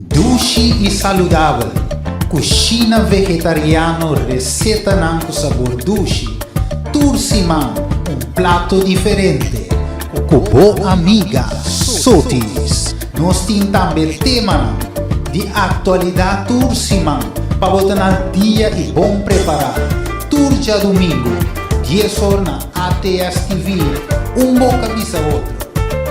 Dushi i saludabel, Kushina vegetariano Resetanan ku sabor dushi Tur siman un plato diferente Ku bo amiga Sotis Nos tin tambe temanan di aktualidat tur siman Pa bo ta na dia i bon prepará Tur djadumingu, dies or na ATS TV Un boka bisa otro,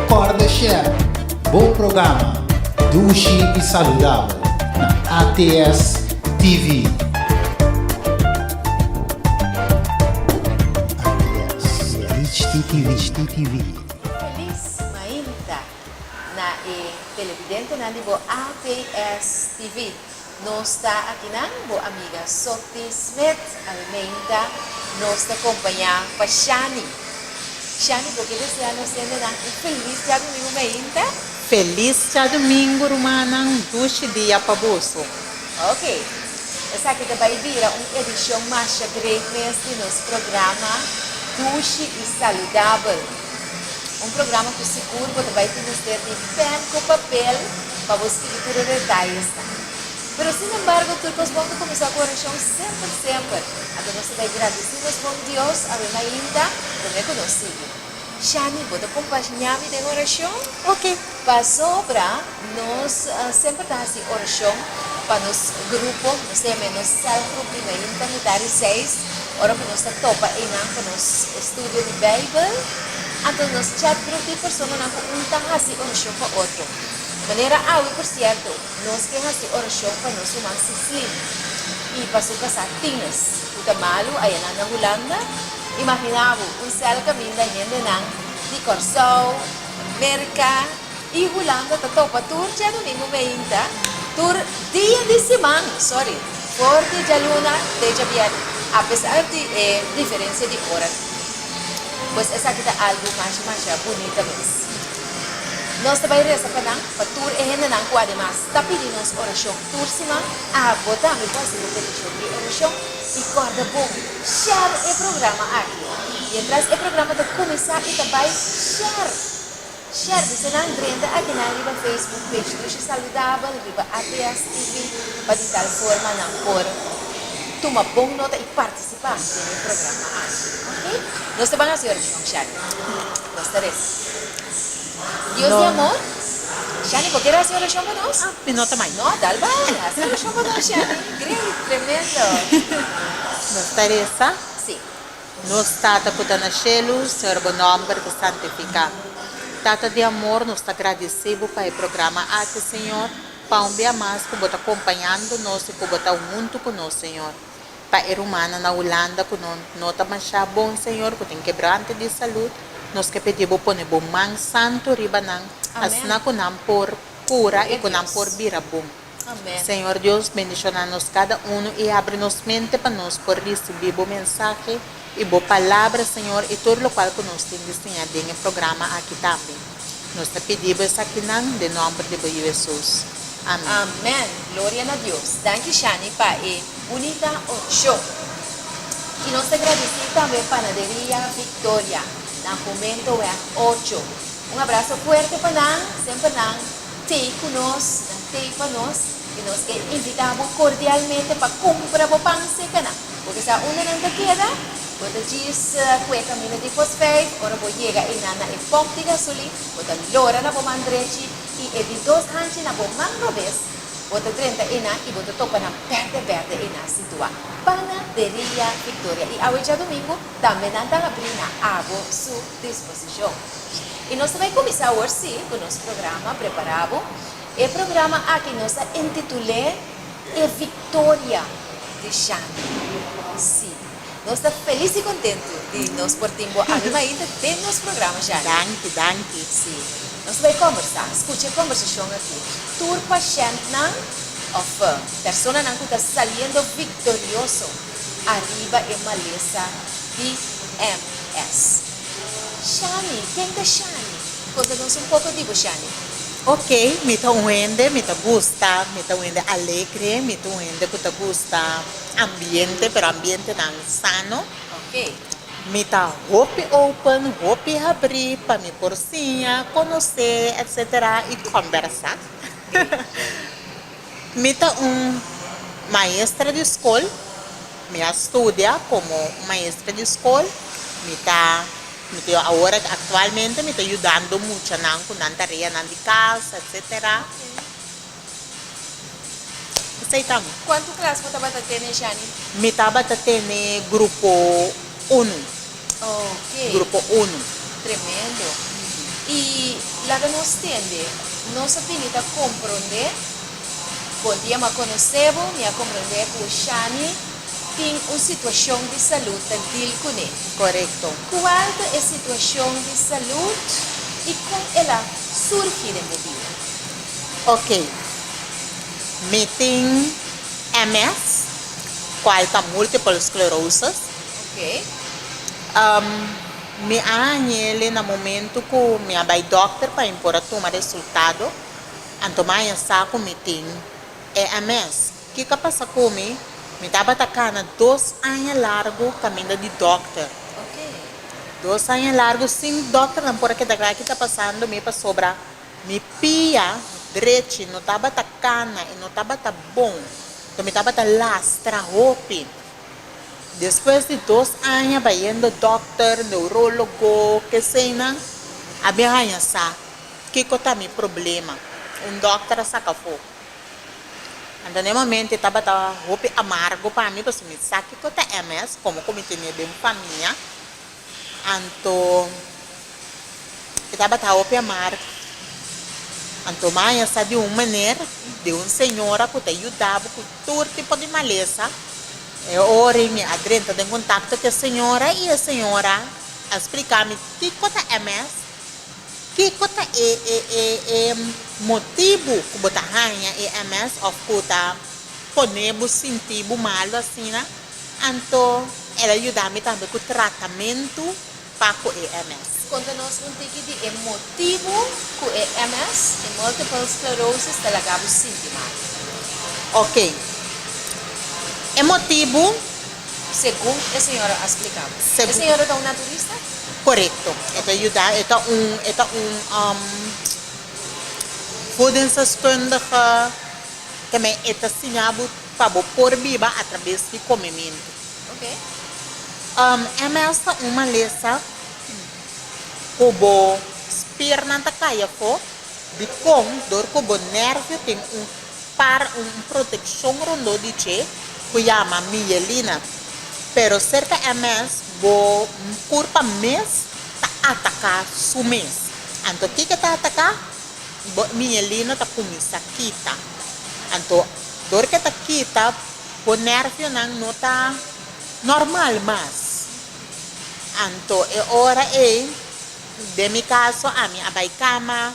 Kòrda Shèf! Bo programa Dushi i Saludabel na ATS TV. ATS HDTV. Felis mainta na e televidentenan di bo ATS TV. Nos ta akinan, bo amiga Softy Smith Almeida nos ta kompañá pa Shani. Shani, bo ke desea nos hendenan un felis djadumingu meinta? Felis djadumingu rumannan, dushi dia pa boso. Ok, esaki ta bai bira un edishon masha great mes di nos programa Dushi i Saludabel. Un programa cu sigur bo ta bay tin mester di pen cu papel pa bo scribi tur e detalles nan. Pero sin embargo tur cos bon ta cuminsa cu oracion semper semper. Anto nos ta bay gradici nos bon Dios awe mainta prome cu nos sigui. Shani, bo ta compañami den oracion? Oke. Pasobra nos semper ta hasi orashon pa nos grupo, nos ta yam'e nos sèlgrup di na Yunta Mitá di Seis, ora ku nos ta topa einan pa nos estudio di Beibel. Anto nos chatgrup di personanan ku un ta hasi orashon pa otro. Manera awe, por sierto, nos ke hasi orashon pa nos human Sislin i pa su kasá Tinus, ku ta malu ayanan na Hulanda. Imaginá bo, un sèl kaminda hendenan di Kòrsou, Merca y Hulanda ta topa tur dje domingo meinta, tur dia di siman, sorry, for di djaluna te djabièrnè, apesar di e diferencia di ora. Pues esaki ta algu masha masha bunita mes. Nos ta bai reza pa nan, pa tur e hendenan cu ademas ta pidi nos oracion tur siman, abo tambe por haci bo peticion di oracion y corda bon. Share e programa aki. Mientras e programa ta cuminsa y ta bay, share! Share di senan drenta akinan riba Facebook page Dushe Saludabel riba ATS TV pa di tal forma nan por tuma bon nota y participa den e programa aki. Ok? Nos ta ban haci oracion, Share. Nos ta reza. Dios di amor. Shani por ke lo hasi orashon pa nos? Ah, mi nota mai. No, dal bai, hasi orashon pa nos Shani. Great, tremendo. Nos ta resa, Si. Nos Tata ku ta na shelu, Señor bo nòmber ta santifiká. Tata di amor, nos ta gradisí bo pa e programa aki, Señor, pa un bia mas ku bo ta kompañando nos i ku bo ta huntu ku nos, Señor. Pa e rumannan na Hulanda ku no no ta masha bon, Señor, ku tin kebrante di salud, nos ke pedí Bo pone Bo man santu riba nan, asina ku nan por kura i ku nan por bira bon. Señor Dios, bendishona nos kada unu i abri nos mente pa nos por risibí Bo mensahe, I bo palabra, Señor, i tur lokual ku nos tin di siña den e programa aki tambe. Nos ta pidi bo esakinan den nòmber di bo Yu Hesus. Amèn. Amen! Gloria na Dios! Danki Shani pa e bunita orsho. I nos ta gradisí tambe Panaderia Victoria na Homentoeweg ocho. Un abraso fuerte pa nan, semper nan tei ku nos, nan tei pa nos. I nos ke invitá bo kordialmente pa kumpra bo pan seka nan. Bo ta sa unda nan ta keda? Bo ta djis ku e kaminda di Fosvijf. Ora bo yega einan na e pomp di gasolin, bo ta lora na bo man drechi i e di dos hanchi na bo man robes. Bo ta drenta einan i bo ta topa nan bèrdè bèrdè einan situá Pana deria Victoria i awe djadumingu tambe nan ta habrí na abo su disposishon. I nos ta bai kuminsá awor sí ku nos programa Prepará bo. E programa aki nos a intitul'é E Victoria di Shani. Sí, nos ta felis i contentu di nos por tin bo aki mainta den nos programa, Shani. Danki, danki. Sí, nos ta bai combersa. Scucha e combersacion aki. Tur pashentnan of personanan cu ta saliendo victorioso ariba e malesa di MS. Shani, ken ta Shani? Contanos un poco di bo, Shani. Ok, mi ta un hende, mi ta gusta, mi ta un hende alegre, mi ta un hende cu ta gusta ambiente, pero ambientenan sano. Mi ta hopi open, hopi habri pa mi por siña, conoce, etc. Y combersa. Mi ta un maestra di skol, mi a studia komo un maestra di skol, mi ta mi ta awor aktualmente mi ta yudando muchanan ku nan tareanan di kas etsetera. Esei ta mi. Kuantu klas bo tabata tene, Shani? Mi tabata tene grupo unu. Grupo unu. Tremendo. Y laga nos tende, nos a bini ta compronde. Bon dia m'a conoce bo, mi a compronde cu Shani tin un situacion di salud ta deal cune. Corecto. Cual ta e situacion di salud y con el a surgi den bo vida? Ok. Mi tin MS, cual ta multiple sclerosis. Ok. Um, mi a hañele na momento cu mi a bay dokter pa mi por a tuma resultado, anto mi a ya sa cu mi tin EMS. Kico a pasa cu mi? Mi tabata cana dos aña largo caminda di dokter. Ok. Dos aña largo sin dokternan por a keda clara ki ta pasando mi pasobra mi pia drechi no tabata cana y no tabata bon. Anto mi tabata lastra hopi. Despues di dos aña bayendo dòkter, neurólogo, keseynan, a bin haña sa kiko ta mi problema. Un dòkter a saka afó. Anto na e momento e tabata hopi amargo pa mi pasobra mi sa kiko ta MS, komo ku mi tene den famia. Anto e tabatin hawo pia mar. Anto Maya sa di un maner di un señora ku ta yudabo ku tur tipo di malesa. E ora mi a drenta den kontakto ku e señora i e señora a splika mi kiko ta MS, kiko ta e e motibu ku bo ta haña e MS òf ku ta pone bo sinti bo malu asina. Anto el a yuda mi tambe ku tratamentu pa ku e MS. Konta nos un tiki di e motibu ku e MS, e multiple sclerosis, ta laga bo sinti mal. Ok. E motibu, segun e señora a splika bo. E señora ta un naturista? Korekto. E ta yuda, e ta un, e ta un voedingsdeskundige, tambe e ta siña bo. Pa bo por biba a trabes di comemintu. Oke. MS ta un malesa cu bo spiernan ta cay afo, dicon dor cu bo nervio tin un par un proteccion rondó di dje cu yama miyelina. Pero cerca MS bo curpa mes ta ataca su mes. Anto kico ta ataca? Miñelina ta kuminsá kita. Anto dor ke ta kita bo nervionan no ta normal mas. Anto e ora ei, den mi kaso, ami a bai kama,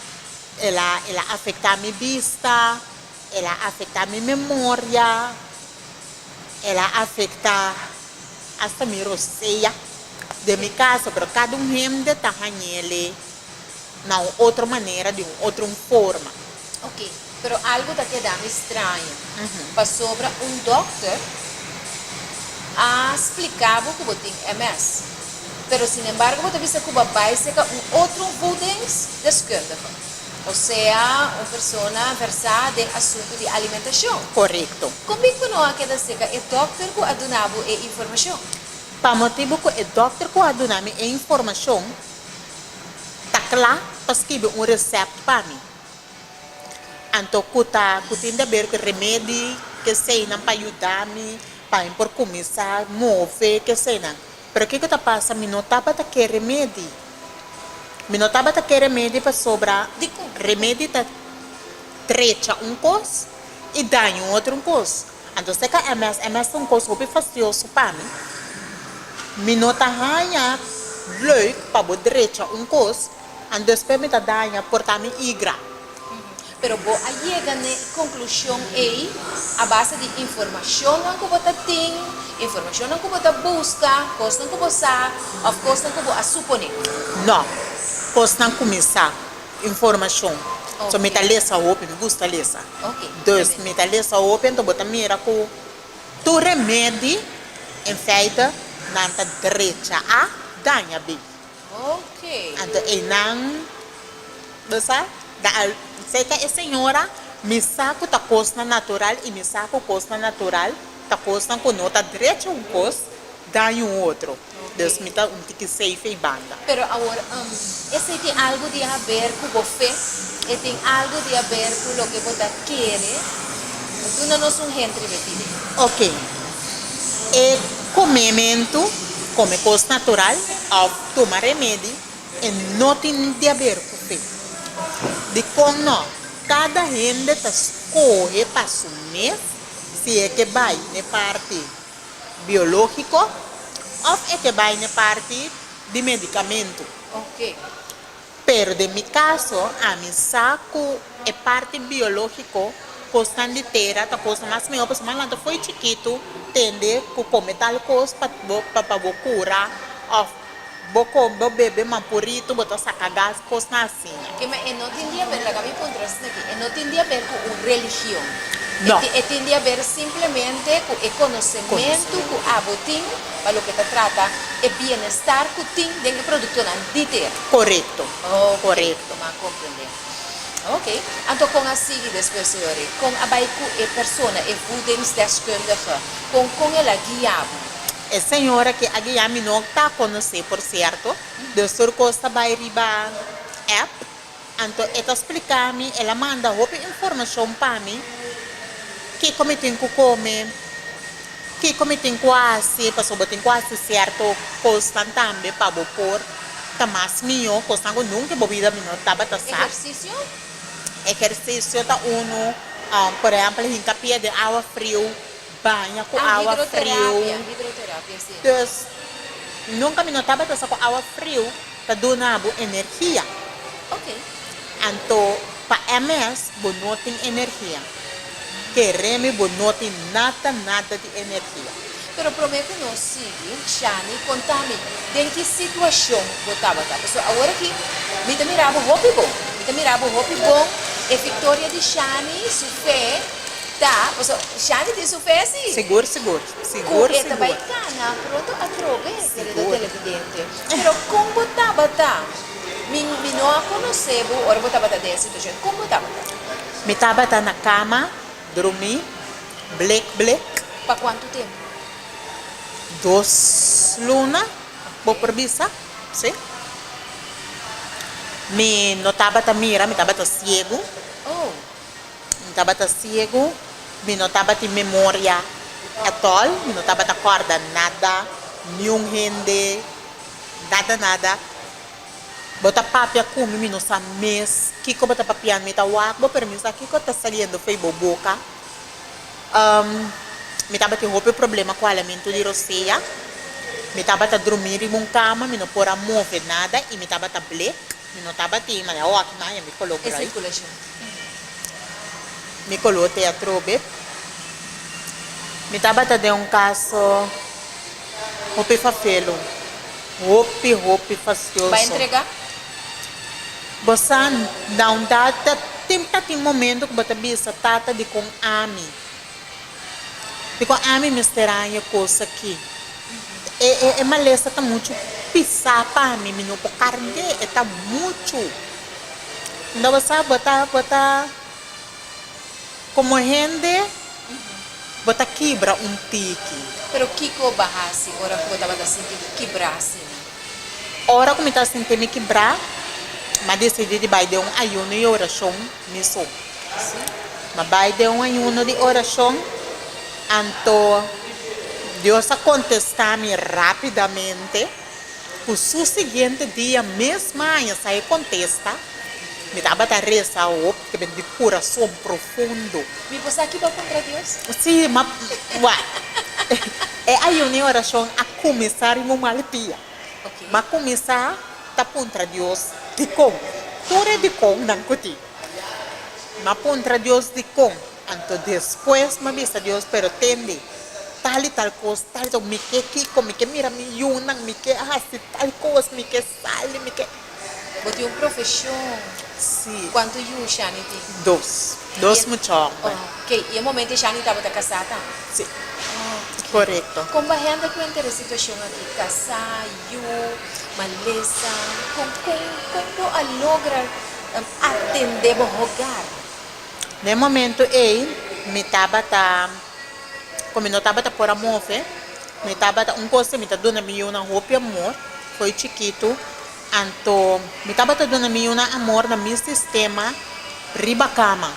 el a el a afektá mi bista, el a afektá mi memoria, el a afektá asta mi rosea den mi kaso, pero kada un hende ta hañ'e alei. na un otro manera, di un otro forma. Ok, pero algo ta kedami estraño, pasobra un dokter a spliká bo ku bo tin MS, pero sin embargo bo ta bisa ku bo a bai seka un otro voedingsdeskundige, osea un persona versá den asuntu di alimentashon. Korekto. Kon bin ku no a keda seka e dokter ku a duna bo e informashon? Pa motibu ku e dokter ku a duna mi e informashon ta cla pa skibi un recept pa mi anto cu ta cu tin ta ber cu remedi kesey nan pa yuda mi pa mi por cuminsa move kesey nan pero kico ta pasa mi no tabata ke remedi mi no tabata ke remedi pasobra remedi ta trecha un cos y daña otro cos. Anto se ka ms, ms ta un kos hopi fasioso pa mi. Mi no ta haña leuk pa bo drecha un kos an despues mi ta daña porta mi igra. Pero bo a yega n'e conclusion ey a base di informacionnan cu bo ta tin, informacionnan cu bo ta busca, cosnan cu bo sa of cosnan cu bo a supone? No, cosnan cu mi sa. informashon. So mi ta lesa hopi, mi gusta lesa. Dus mi ta lesa hopi, anto bo ta mira ku tur remedi en feite nan ta drecha a daña bi. Anto einan bo sa, serka e señora mi sa ku ta kosnan natural i mi sa ku kosnan natural ta kosnan ku no ta drecha un kos, daña un otro. Dus mi ta un tiki seife i banda. Pero awor, esei tin algu di haber ku bo fe, e tin algu di haber ku loke bo ta kere duna nos un hint riba e pide. Oke. E komementu, kome kos natural òf tuma remedi, e no tin di haber ku fe. Dikon nò? Kada hende ta skohe pa su mes si e ke bai n'e parti. biológiko òf e ke bai n'e parti di medikamentu. Pero den mi kaso, ami sa ku e parti biológiko, kosnan di tera, ta kosnan mas mihó pasobra nan ta fo'i chikitu tende ku kome tal kos pa bo kura òf. Bo con bo bebe mapurito bo ta saca gas cosnan asina. Kima e no tin di haber, laga mi puntra asina aki, e no tin di haber cu un religion, No. e tin di haber simplemente cu e conocementu cu abo tin pa loke ta trata e bienestar cu tin den e productonan di tera. Corecto, Ok, corecto. mi a comprende. Ok, anto con a sigui despues señoren? Con a bay cu e persona, e voedingsdeskundige, con con el a guia bo? E señora ke a guia mi no ta conoce por cierto, do sur cos ta bay riba app, anto e ta splica mi, el a manda hopi informacion pa mi, kico mi tin cu come, kico mi tin cu haci, pasobra bo tin cu haci cierto cosnan tambe pa bo por ta mas miyo, cosnan cu nunca bo bida mi no tabata sa. Ejercicio? Ejercicio ta uno, por ehempel hinca pie den awa friu. Baña ku awa friu. Dus, nunka mi no tabata sa ku awa friu ta duna bo energia. Anto, pa e mes bo no tin energia. Kere mi bo no tin nada nada di energia. Pero promé ku nos sigui, Shani konta mi den ki situashon bo tabata. Pasobra awor aki mi ta mira bo hopi bon. Mi ta mira bo hopi bon. E fiktoria di Shani, su fe. Ta, paso Shani tin su fe si. Sigur, sigur. Sigur, sigur. Cu e ta bay cana pronto atrobe querido televidente. Pero con bo tabata? Mi, mi no a conoce bo ora bo tabata den e situacion. Con bo tabata? Mi tabata na cama, drumi, blek, blek. Pa cuanto tempo? Dos luna, bo por bisa, si. Mi no tabata mira, mi tabata ciego. Oh. Mi tabata siegu, mi no tabatin memoria at all, mi no tabata kòrda nada, niun hende, nada nada. Bo ta papia ku mi, mi no sa mes kiko bo ta papiando, mi ta wak bo pero mi no sa kiko ta saliendo fo'i bo boka. Mi tabatin hopi problema ku alamentu di rosea, mi tabata drumi riba un kama, mi no por a move nada i mi tabata blek. Mi no tabatin, ma ya wak maya mi color bright. Mi color te atrobe. Mi tabata den un caso hopi fafelo, hopi hopi fastioso. Bo sa, Down Dada, tin ta tin momento cu bo ta bisa, Tata, dicon ami? Dikon ami mester haña e kos aki? E malesa ta muchu pisá pa mi, mi no por kard'é, e ta muchu. Unda bo sa bo ta, bo ta, komo hende, bo ta kibra un tiki. Pero kiko bo a hasi ora ku bo tabata sinti bo kibrá asina? Ora ku mi ta sintié mi kibrá, mi a desidí di bai den un ayuno i orashon. Mesun así, m'a bai den un ayuno di orashon, anto Dios a kontestá mi rápidamente. Ku su siguiente dia mes maña sa e kontesta. Mi tabata resa hopi te bini di kurason profundo. Mi por sa ki bo kontra Dios? Sí, m'a bai. E ayuno i orashon a kuminsá riba un malpia. Ma kuminsá ta puntra Dios dikon tur e dikon nan ku tin. M'a puntra Dios dikon, anto despues m'a bisa Dios, pero tende tal i tal kos, tal i tal kos, mi ke kiko, mi ke mira mi yunan, mi ke hasi tal kos, mi ke sali, mi ke. Bo tin un profesion. Sí. Cuanto yu Shani tin? Dos. Dos mucha homber. Oh, ok. Y e momento e Shani tabata casá tambe? Sí. Oh, ok. Correcto. Con bo hende cu enter e situacion aki, casá, yu, malesa, con, con, con bo a logra atende bo hogar? Na e momento ey mi tabata, como mi no tabata por a move, mi tabata, un cos que mi ta duna mi yunan hopi amor, Koe chikitu, anto mi tabata duna mi yunan amor na mi sistema riba kama.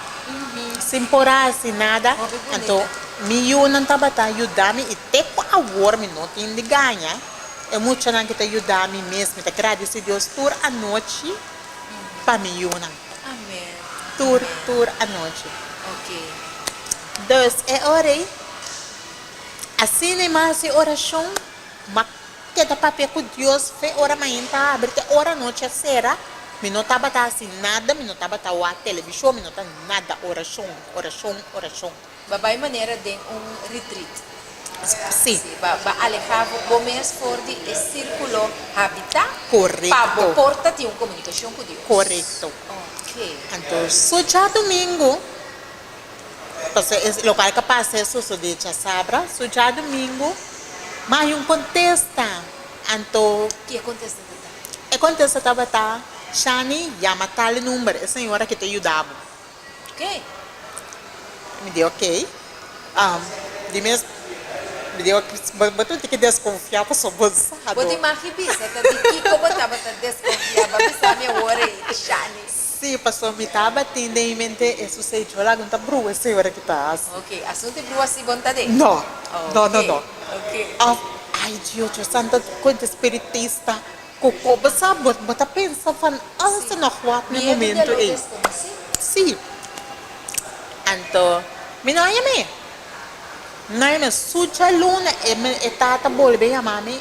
Sin por hasi nada, anto mi yunan tabata yuda mi i te ku awor mi no tin di gaña, e muchanan ke ta yuda mi mes. Mi ta gradisi Dios tur anochi pa mi yunan. Tur, tur anochi. Dus e ora ei, asina i mahasi orashon. Te ta papia ku Dios fe ora mañan ta abri te ora anochi a sera, mi no tabata hasi nada, mi no tabata wak televishon, mi no ta nada, orashon, orashon, orashon. Ba bai manera den un retreat. Sí. Sí, ba ba aleha bo bo mes for di e sirkulo habitá. Korekto. Pa bo por ta tin un komunikashon ku Dios. Korekto. Oke. Anto, so djadumingu. Pasobra e lokal ka pasa e sosodé djasabra, so dja dumingu mas hay un contesta. Anto Ki e contesta tabata? E contesta tabata, Shani yama tal e number, e señora ke ta yuda bo. Ok. Mi di ok. Di mes, mi di ok, bo tin ke desconfia pasobra bo sa do. Bo tin maki bisa ta di kiko bo tabata desconfia? Bo a bisa mi awor ei, Shani. Sí, pastor, mi tabatin den mi mente e su sei djol agun ta brua esei ora ki ta hasi. Ok, asun te brua si bon ta den? No, no, no, no. Ok, ok. Of, ay Dios, yo san ta cuenta espiritista cu coba sa, bo, bo ta pensa van alles ta nog wak na e momento ey. Miedo di a lo desconoce. Sí. Anto, mi no a yama e. Mi no a yama e. Su djaluna e, e tata bolbe yama mi,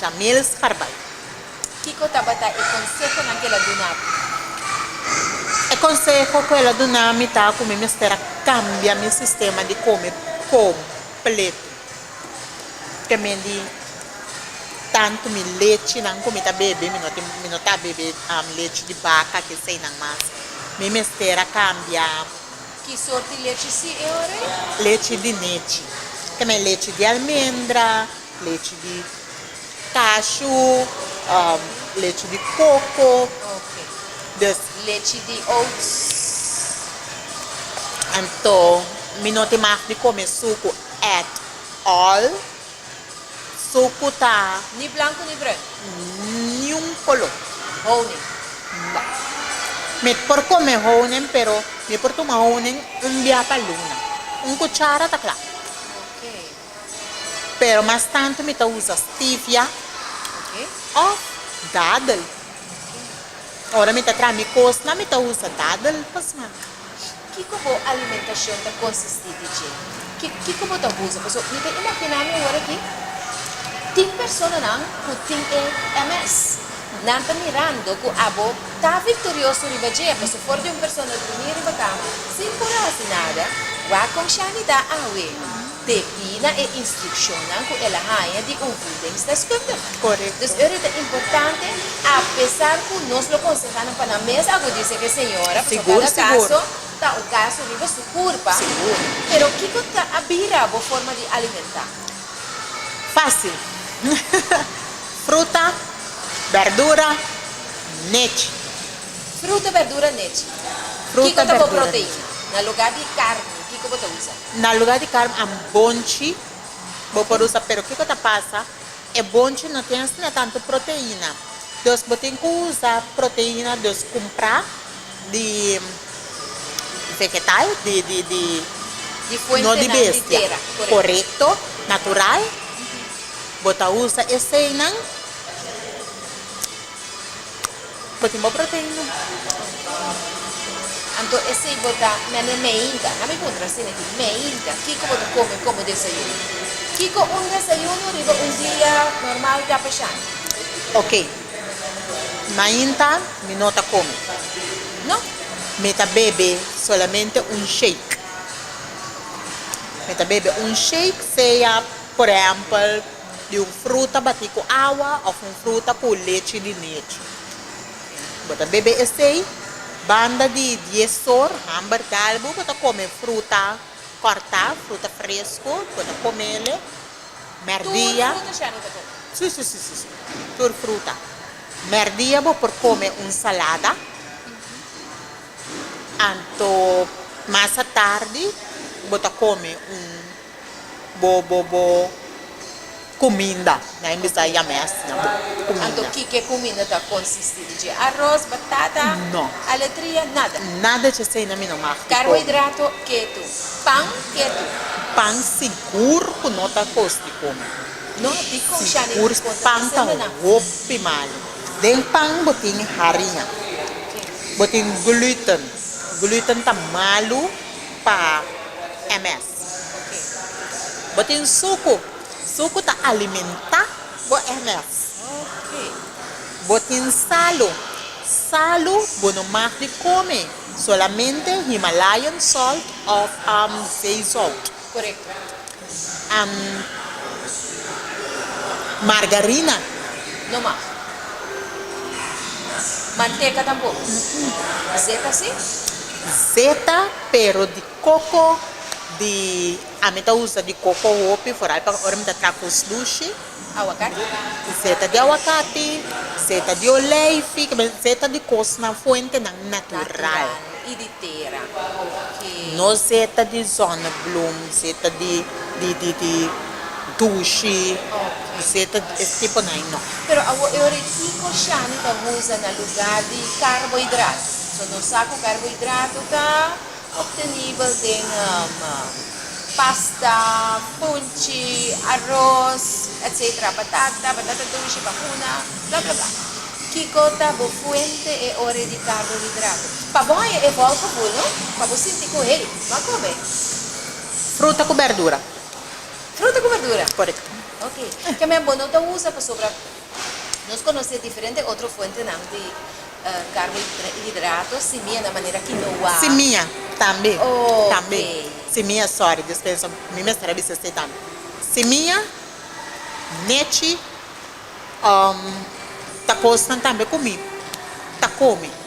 Jamils Carbal. Kiko tabata e konsehonan ku el a duna bo? E konseho ku el a duna mi ta ku mi mester a kambia mi sistema di kome kompletu. Ke men di tantu mi lechinan ku mi ta bebe, mi no tin mi no ta bebe lechi di baka, ke eseinan mas. Mi mester a kambia. Ki sort di lechi si e ora ei? Lechi di nechi. Tambe lechi di almendra. Lechi di kashu, lechi di koko, dus. Lechi di oats. Anto mi no tin mag di kome suku at all. Suku ta. Ni blanku ni brun. Niun kolo. Honing. No. Mi por kome honing pero mi por tuma honing un bia pa luna. Un kuchara ta kla. Ok. pero mas tantu mi ta usa stevia of dadel ora mi ta traha mi kosnan mi ta usa dadel pa smak. Kiko bo alimentacion ta consistí di dje? Kiko bo ta usa? Pasobra mi ta imaginá mi ora aki tin personanan ku tin e MS. Nan ta mirando ku abo ta victorioso riba dje, pasobra for di un persona durmí riba cama sin kura hasi nada, wak con Shani ta awe. Debí na e instruccionnan cu el a haña di un voedingsdeskundige. Dus ora ta importante, apesar cu nos lo conseha nan pa nan mes agudisa cu e señora, pasobra cada caso ta un caso riba su curpa. Pero kico ta a bira bo forma di alimenta? Fácil. Fruta, berdura, nechi. Fruta, berdura, nechi. Kico ta bo proteina? Na lugar di carni, kico bo ta usa? Na lugar di carm a bonchi bo por usa pero kico ta pasa e bonchi no tin asina tanto proteina dos bo tin cu usa proteina dos cumpra di vegetal di no di bestia corecto natural bo ta usa eseynan. Bo tin bo proteina? Anto esei bo ta mene meinta? Na mi puntra asina aki, meinta, kiko bo ta kome ku bo desayuno? Kiko un desayuno riba un dia normal ta pashando? Ok, mainta mi no ta kome. No, mi ta bebe solamente un shake. Mi ta bebe un shake, sea, por ehèmpel. di un fruta batí ku awa òf un fruta ku lechi di nechi. Bo ta bebe esei, banda di dies or hàmber galbu bo ta kome fruta kòrtá, fruta fresku, bo ta komele mèrdia. Tur fruta shèn bo ta kome? Sí, sí, sí, sí, tur fruta. Mèrdia bo por kome un salada, anto mas atardi bo ta kome un. bo bo cuminda. Nan a bisa ya me asina bo bo cuminda. Anto kike cuminda ta consisti di dje? Arroz, batata, aletria, nada. Nada dje esey nan mi no mag di comi. Carbohidrato ketu. Pan ketu. Pan sigur cu no ta cos di comi. No a di con shani di di conta ta haciendo nan. Sigur pan ta hopi malo. Den pan bo tin harinha. Bo tin gluten. Gluten ta malo pa ms. Bo tin suku. Suku ta alimenta bo ener. Bo tin salu. Salu bo no mag di kome, solamente Himalayan salt of Sea salt. Margarina. No mag. Manteka tampoco. Zeta si. Zeta pero di. Koko di ami ta usa di koko hopi for ai pa ora mi ta traha kos dushi. Awakati. Seta di awakati, seta di olijfi, ke men seta di kosnan fuentenan natural. Natural i di tera, oke. No seta di zonneblum, seta di di di di dushi, no seta di es tipo nan ai no. Pero awo e ora ki kosha mi ta usa na luga di karbohidrato? So nos sa ku karbohidrato ta. Obtenibel den pasta, punchi, aros, etc. Batata, batata dushi, bahuna, bla bla bla. Kiko ta bo fuente e ore di karbohidrato? Pa bo haya e bòl ku buno, pa bo sinti ku hey, lo a kome. Fruta ku berdura. Fruta ku berdura? Korekto. Ok. Kemia bo no ta usa pasobra. Nos conoce diferente otro fuentenan di carbohidratos, simia na manera quinoa. Simia, tambe, tambe, simia, sorry, dispensa, mi mester a bisa esey tambe, simia, nechi, ta cosnan tambe cu mi ta come.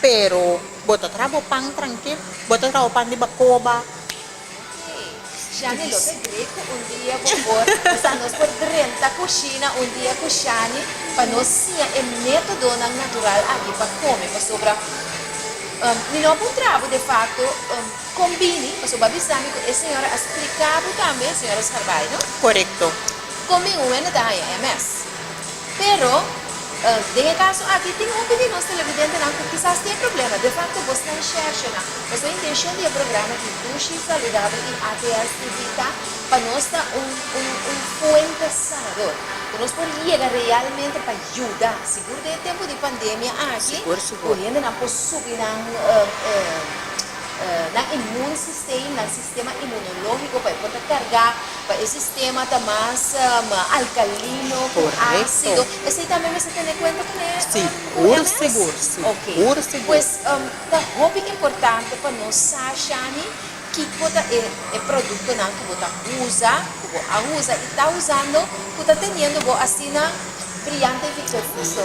Pero bo ta traha bo pan trankil? Bo ta traha bo pan di bakoba? Oke. Shani lo ta great cu un dia bo por, o sea, nos por drenta cushina un dia cu Shani pa nos siña e metodonan natural aki pa come, pasobra mi no a por traha bo de facto con bini, pasobra bo a bisa mi cu e señora a splica bo tambe, señora Scarbay, no? Corecto. Con bin un wende ta haña ms. Pero, den e kaso aki, tin hopi di nos televidentenan ku kisas tin e problema. De fakto, bo sta enshèrshe nan. Pasobra e intenshon di e programa di Dushi Saludabel i ATS TV ta pa nos ta un un un puente sanador, ku nos por yega realmente pa yuda, sigur den e tempu di pandemia aki, ku hendenan por subi nan nan inmun sistem, nan. Sistema inmunológiko pa e por ta kargá, pa e sistema ta mas alkalino ku ásido. Esei tambe mester tene kuenta ku ne UMS? Oke. Pues ta hopi importante pa nos sa shani kiko ta e e produktonan ku bo ta usa, ku bo a usa i ta usando ku ta teniendo bo asina briante i victorioso.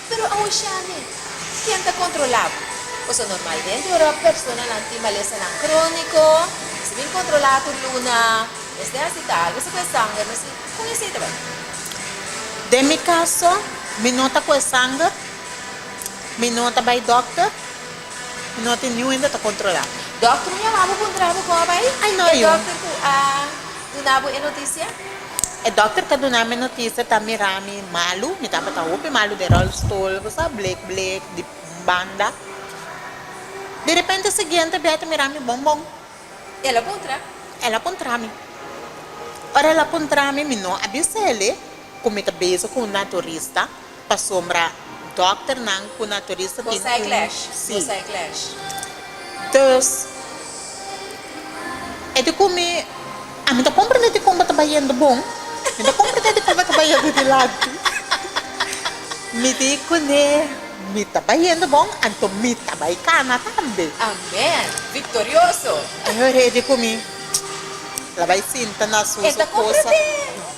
Pero awoshami, ken ta kontrolá bo? Pasobra normalmente ora personanan tin malesanan króniko, esei bin kontrolá tur luna, mester hasi tal bes e ku e sanger, mi a si, Kon esei ta bai? Den mi kaso, mi no ta ku e sanger, mi no ta bai dòkter, mi no tin niuende ta kontrolá mi. Dòkter a yama bo puntra bo kon a bai? E dòkter ku a duna bo e notisia? E dokter ta duna mi notisia, ta mira mi malu, mi tabata hopi malu den rolstoel, ku sa blek blek di banda. Derepente siguiente bia e ta mira mi bon bon. El a puntra? El a puntra mi. Ora el a puntra mi, mi no a bisa el e ku mi ta bezig ku un naturista. Pasobra dòkternan ku naturista tin un. Dus, e di ku mi, Ami ta komprendé di kon bo ta bayendo bon, mi ta komprendé di kon bo ta bayendo dilanti. Mi di kuné, Mi ta bayendo bon, anto mi ta bai kana tambe. Amén! Viktorioso! E ora e di ku mi, La bai sinta na su kosa.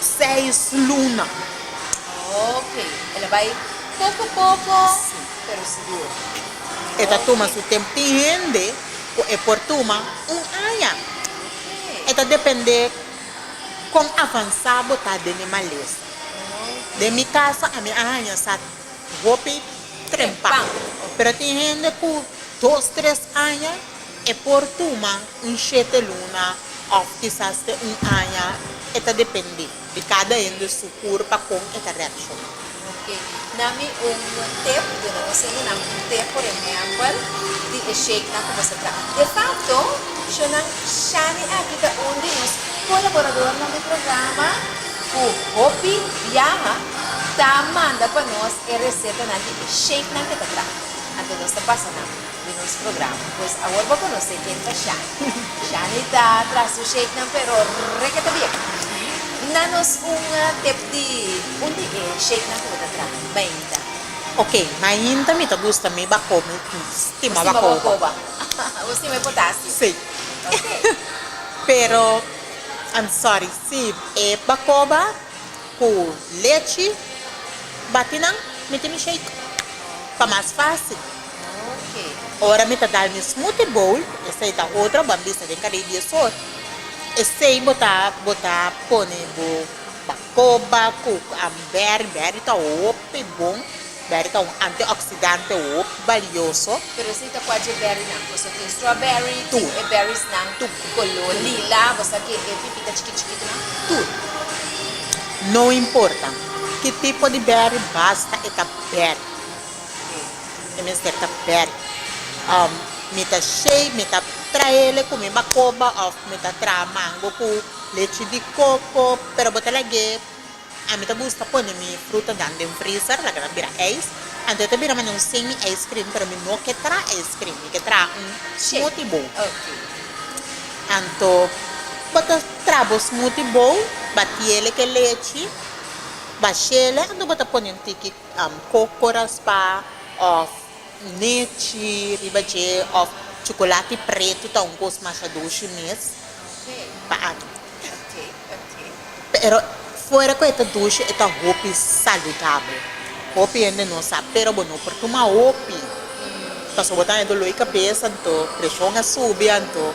Seis luna. Ok, el a bai poko poko pero sigur. E ta tuma su tempo. Tin hende ku e por tuma un aña. E ta depende kon avansá bo ta den e malesa. Den mi kaso ami a haña sa hopi trempa, pero tin hende ku dos tres aña. E por tuma un shete luna òf kisas te un aña, e ta dependé di kada hende su kur pa kon e ta reakshona. Ok. Na mi un tip, duna nos hendenan un tip, por ehèmpel, di e shakenan ku nos ta traha. De fakto, Shunan, Shani aki ta un di nos kolaboradornan di programa ku hopi biaha ta manda pa nos e resetanan di e shakenan ku e ta traha. Anto nos ta pasa nan. di nos programa. Pues awor bo conoce ken ta Shani. Shani ta tras su shakenan pero rekete bien. Na nos un tep di un di e shakenan cu bo ta traha mainta. Ok, mainta mi ta gusta mi bacoba, stima bacoba. Bo stima e potasio. Si. Ok. Pero I'm sorry si e bacoba cu lechi bati nan mi tin mi shake pa mas facil. Ora mi ta dal mi smoothie bowl, esei ta otro bambista den kada e dies or, esei bo ta bo ta pone bo bacoba cu berry, berry ta hopi bon, berry ta un antioxidante hopi balioso. Pero esei ta cuachi e berry nan, pasobra tin strawberry, tin e berries nan color lila, bo sa ki e pipita chikit chikit nan? Tur. No importa ki tipo di berry basta e ta berry. Oke, e mester ta bèk. Àm, mi ta shave, mi ta trae le ku mi bakoba òf mi ta traha mango ku lechi di koko. Pero bo ta lag'é, ami ta buska pone mi frutanan den freezer laga nan bira ijs. Anto e ta bira manera un semi ice cream, pero mi no ke traha ice cream, mi ke traha un smoothie bowl. Oke. Anto bo ta traha bo smoothie bowl, batiele ke lechi, ba shele, anto bo ta pone un tiki. Cocoraspa of nechi riba dje of chocolati preto ta un cos masha doshi mes pa aki. Pero fuera cu e ta doshi e ta hopi saludabel. Hopi hende no sa pero bo no por tuma hopi pasobra bo ta hendo loi cabeza anto presion a subi anto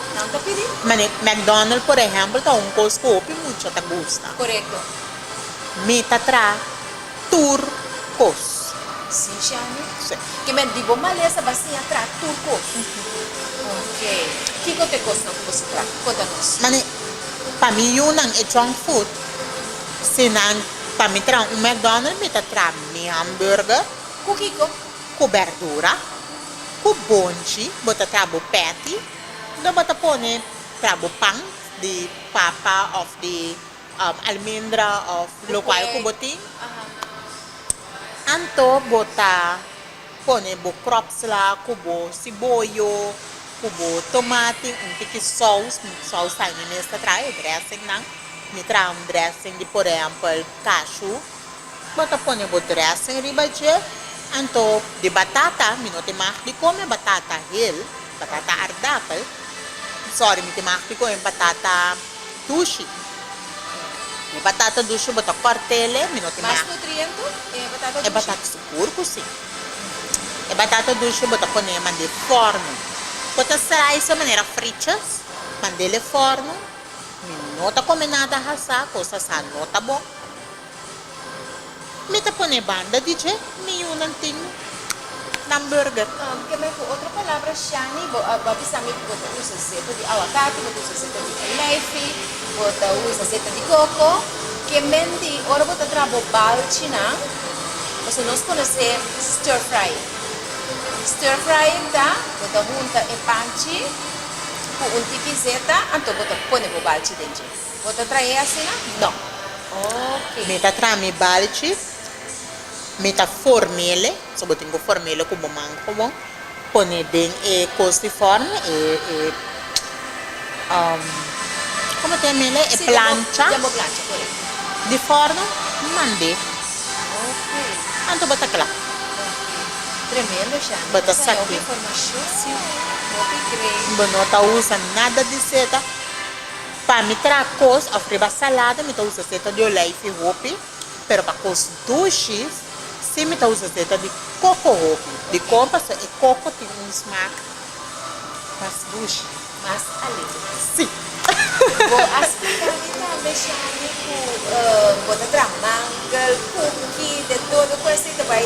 Nan ta pidi. McDonald por ehempel ta un cos cu hopi mucha ta gusta. Corecto. Mi ta tra tur cos. Si Shani? Si. Ki men di bo malesa ba siña tra tur cos. Ok. Kico ta e cosnan cu bo sa tra? Cota nos. Mane, pa mi yu nan e junk food. Si nan, pa mi tra un McDonald mi ta tra mi hamburger. Cu kico? Ku berdura, ku bonchi bo ta tra bo peti nda bo ta pone tra bo pan di papa of di almendra of lokual ku bo tin anto bo ta pone bo crops la ku bo siboyo ku bo tomati un tiki sous mi sous ta mi mes ta traha e dressing nan mi traha un dressing di por ehempel cashew. Bo ta pone bo dressing riba dje, anto di batata mi no tin mag di come batata hel, batata aardappel, sorry mi tin mag di come batata dushi, e batata dushi bo ta cortele, mi no tin mag, e batata segur cu si, e batata dushi bo ta pone mande forno, bo ta slice manera frichas, mandele forno, mi no ta come nada hasa, cos asa no ta bon. Mi ta pone banda di dje mi yunan tin nan burger. Ke me ku otro palabra shani bo a bisa mi ku bo ta usa zeta di awakati, bo ta usa zeta di olijfi, bo ta usa zeta di koko. Ke menti ora bo ta traha bo balchinan, pasobra nos konos'e stir fry. Stir fry ta bo ta hunta e panchi ku un tiki zeta anto bo ta pone bo balchi den dje. Bo ta trae asina? No. Ok. Mi ta traha mi balchis, mi ta formele, so bo tin ku formele ku bo man ku bo pone den e kos di forme, e, e, um, komo ta yamele? E plancha. Si, den bo plancha, korekto. Di forno, mand'é. Ok. Anto bo ta kla. Ok. Tremendo, Shani. Bo ta sak'é. Hopi informashon. Si. Hopi great. Bo no ta usa nada di seta. Pa mi tra cos of riba salada mi ta usa seta di olijfi hopi, pero pa cos dushi si mi ta usa seta di coco hopi, dicon paso e coco tin un smaak mas dushi. Mas alegre. Si. Bo a splica mi tambe Shani cu bo ta traha mangel, cookie, de todo cu esey ta bay.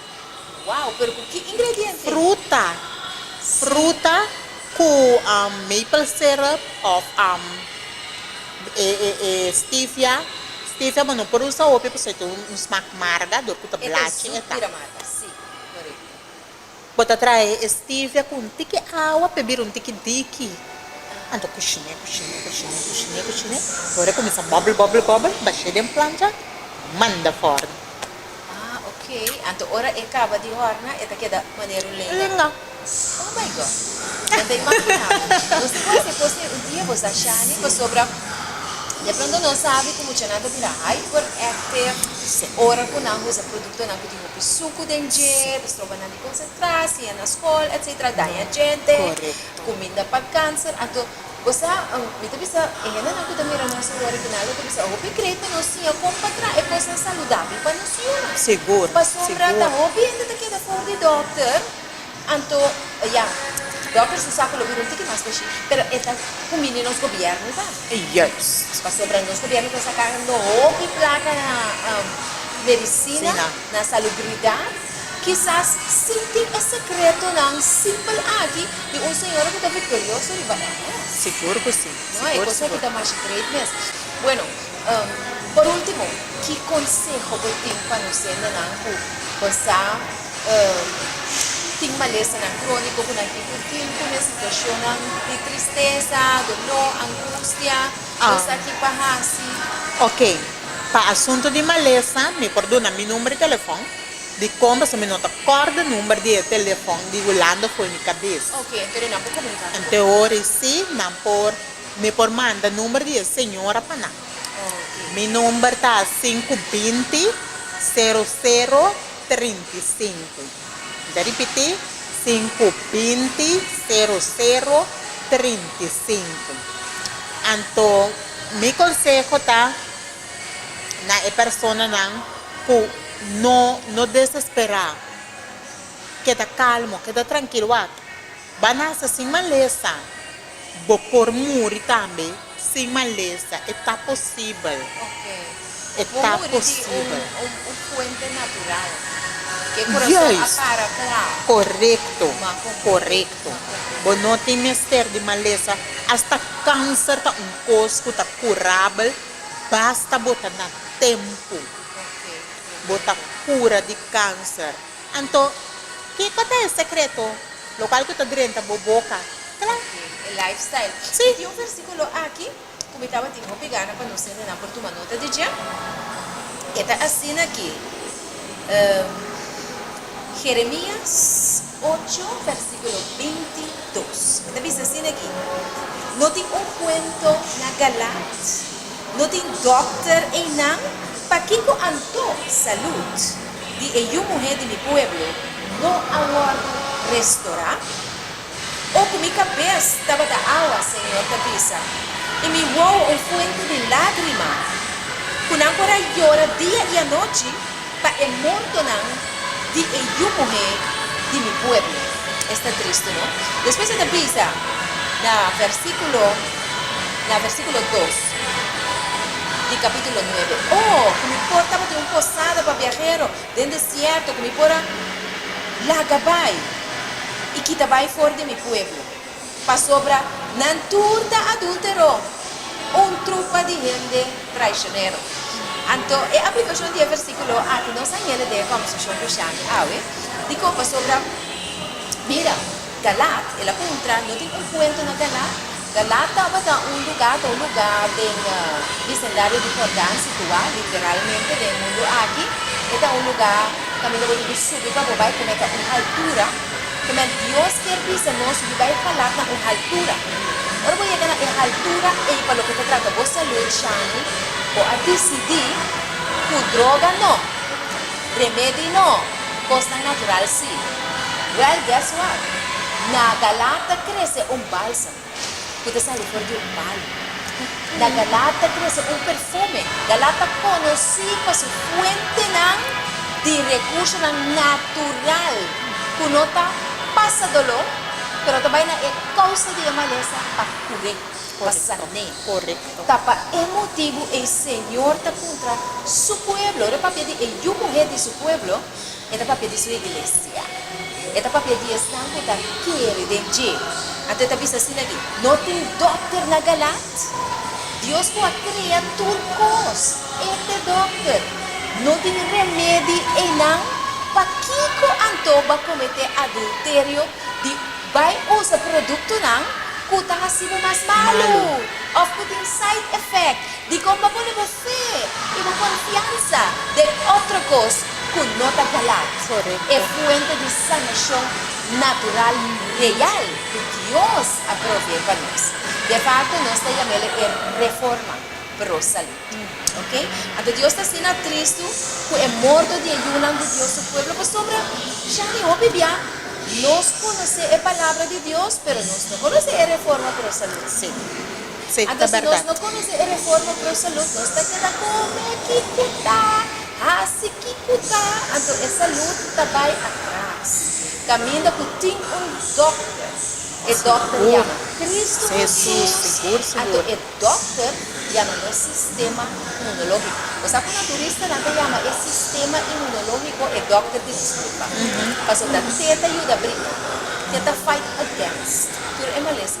Wow, pero cu ki ingrediente? Fruta. Fruta cu maple syrup of e e e stevia. Stevia bo no por usa hopi pasobra e ta un smaak marga dor cu ta blachi e ta. Bo ta trahe e stevia cu un tiki awa p'e bira un tiki diki. Anto cushine, cushine, cushine, cushine, cushine. Ora e cuminsa bubble, bubble, bubble, bashe den plancha, manda for. Ah ok, anto ora e caba di horna e ta keda manera un leña? No. Oh my God! Nan ta imagina bo. Nos tin cu haci cos tin un dia bo sa Shani pasobra de pronto no sabi cu muchanan ta bira hyperactive ora cu nan usa productonan cu tin hopi sucu den dje, ta stroba nan di concentra, siña na scol, etc. Daña djente, cuminda pa cancer, anto. Bo sa, mi ta bisa e hendenan ku ta mira nos serie original lo ta bisa, hopi krei ta nos siña kon pa traha e kosnan saludabel pa nos yunan. Sigur, Pasobra ta sigur. hopi hende ta keda for di dòkter, anto ya, dòkter su sa ku lo bira un tiki mas pa shi, pero e ta kumbini nos gobièrnu ta. Juist. Pasobra nos gobièrnu ta saka hopi plaka na medisina, Sina. na salubridat. Kisas sí tin e sekretonan simpel aki di un señora ku ta viktorioso riba e mes. Sigur ku sí. No, e kos aki ta masha great mes. Bueno, por último, ki konseho bo tin pa nos hendenan ku bo sa tin malesanan króniko ku nan tin ku dil ku nan situashonnan di tristesa, doló, angustia? Bo sa ki pa hasi? Oke, pa asuntu di malesa mi por duna mi nùmber di telefòn. di con pasobra mi no ta corda number di e telefon di Hulanda fo'i mi cabes. Ok, enton e nan por comunica cu bo. Enton hori si, nan por, mi por manda number di e señora pa nan. Ok. Mi number ta sinku binti sero sero trinta i sinku. Mi ta ripiti, sinku binti sero sero trinta i sinku. Anto mi conseho ta. na e personanan ku no no desesperá. Keda kalmo, keda trankil wak. Ban hasi sin malesa. Bo por muri tambe sin malesa. E ta posibel. E ta posibel. Korekto, korekto. Bo no tin mester di malesa. Asta kanser ta un kos ku ta kurabel. Basta bo ta na tempu bo ta kura di kanser. Anto, ke ta ta e sekreto lokual ku ta drenta bo boka? Kla. E lifestyle. Mi tin un versikulo aki ku mi tabatin hopi gana pa nos hendenan por tuma nota di dje. E ta asina ki, Jeremias ocho, vèrsikulo. Capítulo binti dos. E ta bisa asina aki, No tin un cuento na Galaad, no tin dokter einan, pakico anto salud di e yu muhé di mi pueblo no a wordo restorá? O cu mi cabes tabata awa, Señor ta bisa, i mi wou un fuente di lagrima, cu nan por a yora dia i anochi? Pa e montonan di e yu muhé di mi pueblo. Esta tristi, no? Despues e ta bisa na versíkulo, na versíkulo dos di kapítulo nuebe, O, ku mi por tabatin un posada pa biahero den desierto, ku mi por a laga bai i kita bai for di mi pueblo. Pasobra nan tur ta adultero, un trupa di hende traicionero. Anto, e aplicacion di e versiculo aki nos a yende den e conversacion cu Shani awe, dicon pasobra, mira, Galaad, el a puntra, no tin un puente na Galaad? Galaad tabata un lugar, ta un lugar den bisendario di Jordan, situa literalmente den e mundu aki, e ta un lugar, caminda bo tin cu subi pa bo bay, como ta un altura. Amen. Dios kier bisa nos di bai falap na un haltura. Ora bo yega na e haltura ey pa loke ta trata bo salud Shani, bo a dicidi cu droga no, remedi no, cosnan natural si. Well guess what? Na galap ta crece un balsam. ku ta sali for di un bali. Na Galaad ta krese un perfume. Galaad ta konosí pa su fuentenan di rekursonan natural ku no ta pasa doló, pero ta bai na e kousa di e malesa pa kur'é, pa san'é. Ta pa e motibu e Señor ta kontra Su pueblo, ora papia di e yu muhé di Su pueblo, E ta papia di su iglesia. E ta papia di esnan ku ta kere den dje. Anto e ta bisa asina di, No tin dòkter na Galaad? Dios ku a krea tur kos, e ta e dòkter. No tin remedi einan? Pakiko anto bo a kometé adulterio di bai usa produktonan ku ta hasi bo mas malu òf ku tin side effect? Dikon pa bo lo bo. Fe i bo konfiansa den otro kos ku no ta galat. E fuente di sanashon natural real ku Dios a provee pa nos. De parti nos ta yama el e reforma pro salud. Ok. Anto Dios ta asina tristu ku e morto di e yunan di Dios su pueblo pasobra ya mi hopi bia nos konosé e palabra di Dios pero nos no konosé e reforma pro salud. Sí, ta berdad. Anto si nos no conoce e reforma pro salud, nos ta keda come kico ta, haci kico ta, anto e salud ta bay atras. Caminda cu tin un dokter, e dokter yama Cristo Hesus, anto e dokter yama nos sistema inmunologico. Bo sa cu naturista nan ta yama e sistema inmunologico e dokter di disculpa, pasobra te ta yuda briga, te ta fight against tur e malesa.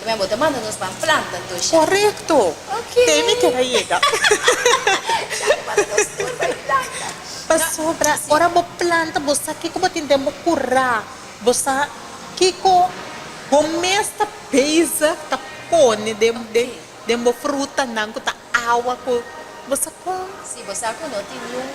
Mira, bo ta manda nos pa Atlanta tusha. Korekto! Oke. Te mi keda yega. Shari manda nos tur pa Atlanta. Pasobra ora bo planta bo sa kiko bo tin den bo kura, bo sa kiko bo mes ta bezig ta pone den den bo frutanan ku ta Awa cu bo sa con. Si bo sa cu no tin niun.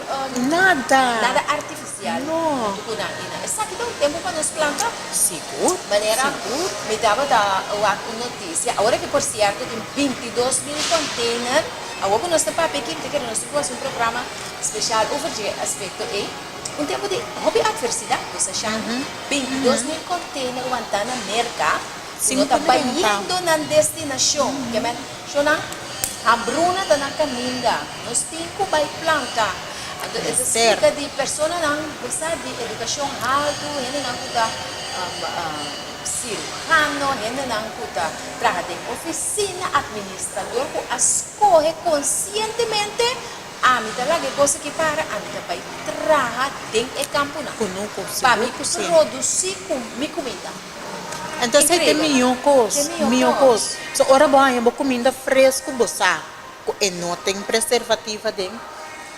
Nada. Nada artificial. No. Punto cu nan tin nan. Esaki ta un tempo pa nos planta. Sigur. Manera. Sigur. Mi tabata wak un noticia ahora que por cierto tin binti dos mil container awo cu nos ta papia aki mi ta kere nos tin cu haci un programa special over dje aspecto ey. Un tempo di hopi adversidad bo sa shan binti dos mil container wanta na merca cu no ta bayendo nan destinacion. Shona, Hambruna ta na kaminda. Nos tin ku bai planta. Anto e ta splika di personanan besar di edukashon haltu, hendenan ku ta sirujano, hendenan ku ta traha den ofisina, administrador ku a skohe konsientemente, Ami ta laga e kos aki para, ami ta bai traha den e kampunan pa mi produsi mi kumida. Entonces hay te miho cos, miho cos. So ora bo haña bo cuminda fresco bo sa cu e no ten preservativo aden,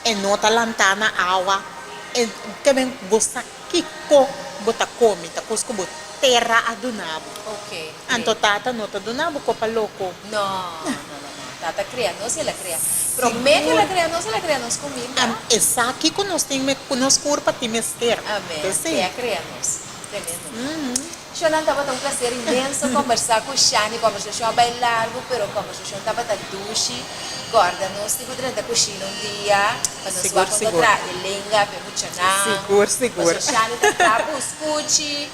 e no ta lanta na awa, e ta bien bo sa kico bo ta comi, ta cos cu bo tera a duna bo. Anto tata no ta duna bo copa loco. No, no, no, no, no. Tata crea nos y el a crea prome cu el a crea nos, el a crea nos cuminda. Am, esaki cu nos tin me, cu nos cur pa tin mester. Amen. Te a crea nos. Shonnan tabata un placer inmenso combersa cu Shani combersashon a bay largo pero combersashon tabata dushi corda nos tin cu drenta cushina un dia pa nos wak con ta traha e lenga p'e muchanan pasobra Shani ta traha bus cuchi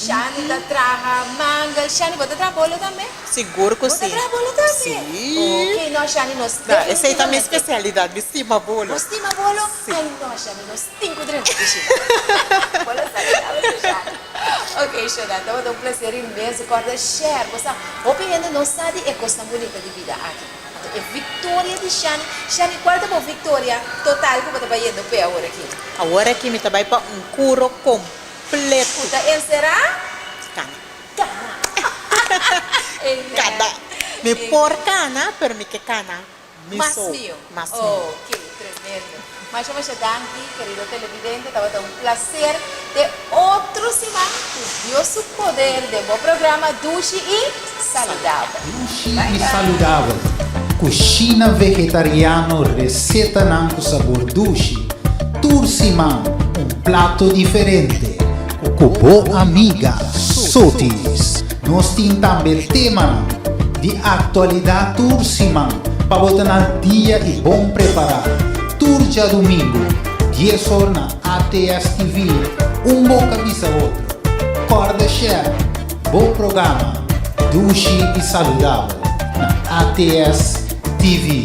Shani ta traha mangal Shani bo ta traha bolo tambe? bo ta traha bolo tambe? ok no Shani nos definitivamente nos stima bolo nos stima bolo ay no Shani nos. Tin cu drenta di Sheila. Bo lo sa tin algo special. Ok Sheila, tabata un placer inmenso corda share. Bo sa, hopi hende no sa di e cosnan bunita di bida aki. Anto e victoria di Shani. Shani, cual ta bo victoria total cu bo ta bay yendo p'e aworaki? Aworaki mi ta bay pa un curo completo. Cu ta encera? Cana. Cana. Amen. Cada. Mi por cana, pero mi ke cana. Mas mio. Ok, tremendo. Masha masha danki kerido televidente, tabata un placer te otro siman cu Dios su poder den bo programa Dushi y Saludabel. Dushi y Saludabel, cushina vegetariano, recetanan cu sabor dushi, tur siman un plato diferente cu bo amiga Sotis. Nos tin tambe temanan di aktualidat tur siman pa bo ta na al dia i bon prepará. Tur djadumingu, dies or na ATS TV, un boka bisa otro. Kòrda share bo programa Dushi i Saludabel na ATS TV.